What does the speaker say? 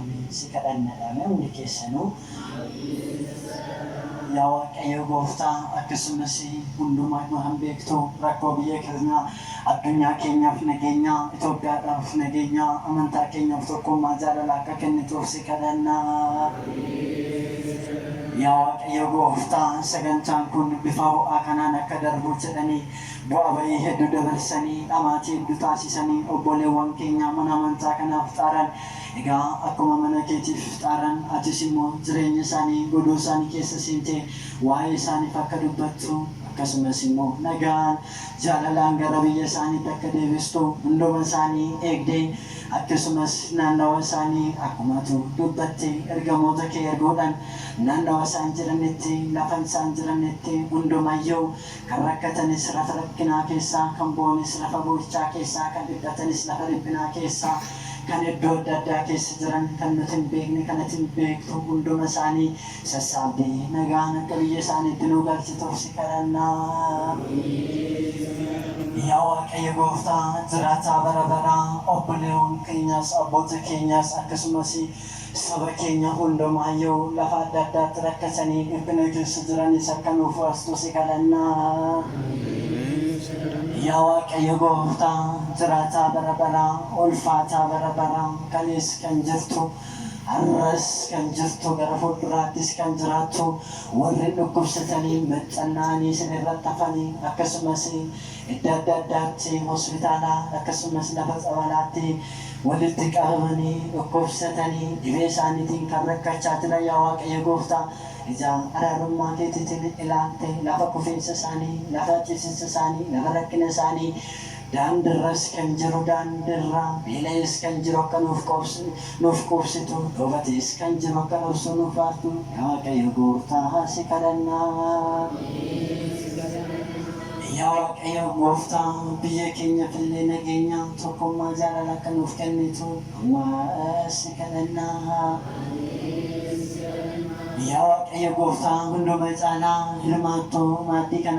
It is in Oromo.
Ameen si kadhannadha mee hundi keessanuu Yaa waaqayyoo gooftaa akkasumas hundumaayuu kan beektu rakkoo biyya keenyaa addunyaa keenyaaf nageenyaa Itoophiyaadhaaf nageenyaa amantaa keenyaaf tokkummaa jaalala akka kennituuf si kadhanna Yaa waaqayyoo gooftaa sagantaan kun bifa ho'aa kanaan akka darbu jedhanii bu'aa ba'ii hedduu dabarsanii dhamaatii hedduu taasisanii obboleewwan keenyaa mana amantaa kanaaf xaaran Egaa akkuma mana keetiif xaarran, atis immoo jireenya isaanii godoo isaanii keessa seentee waa'ee isaaniif akka dubbattu, akkasumas immoo nagaan, jaalalaan gara biyya isaaniitti akka deebistu hunduma isaanii eegdee, akkasumas naannawa isaanii akkuma atu dubbatte ergamoota kee erguudhaan naannawa isaan jiranitti, lafa isaan jiranitti hundumayyuu Kan rakkatanis lafa rakkinaa keessaa, kan boonis lafa boo'ichaa keessaa, kan dhiphatanis lafa dhiphinaa keessaa, kan iddoo adda addaa keessa jiran, kan nuti hin beekne, kan ati hin beektu hunduma isaanii sassaabdii nagaan akka biyya isaaniitti nu galchituuf si kadhanna. Yaa Waaqayyo Gooftaa jiraataa bara baraa, obboleewwan keenyas, abboota keenyas, akkasumas. Saba keenya hundumaayyuu lafa adda addaatti rakkatanii dhiphina keessa jiranis akka nuuf baastu si kadhanna. Yaa Waaqayyo gooftaa jiraataa bara baraa, ulfaataa bara baraa, kalees kan jirtu, har'as kan jirtu, gara fuulduraattis kan jiraattu, warri dhukkubsatanii, maccanna'anii, sin irratti hafanii, akkasumas, Iddo adda addaatti hospitaala akkasumas lafa tsabalaatti walitti qabamanii dhukkubsatanii dhibee isaaniitiin kan rakkachaa jiran yaa Waaqayyo gooftaa ija araarummaa keetiitiin ilaaltee lafa kufiinsa isaanii lafa ciisinsa isaanii lafa rakkina isaanii daandirras kan jiru daandirra beela'ees kan jiru akka nuuf qoobsu nuuf quubsitu dhoobatees kan jiru akka dhoofsuu nuuf baartu yaa Waaqayyo gooftaa si kadhannaa. Yaa Waaqayyo gooftaa, biyya keenyaf illee nageenya, tokkummaa, jaalala akka nuuf kennitu amma si kadhanna. Yaa Waaqayyo gooftaa, hunduma caalaa hirmaattoo maaddii kanaa,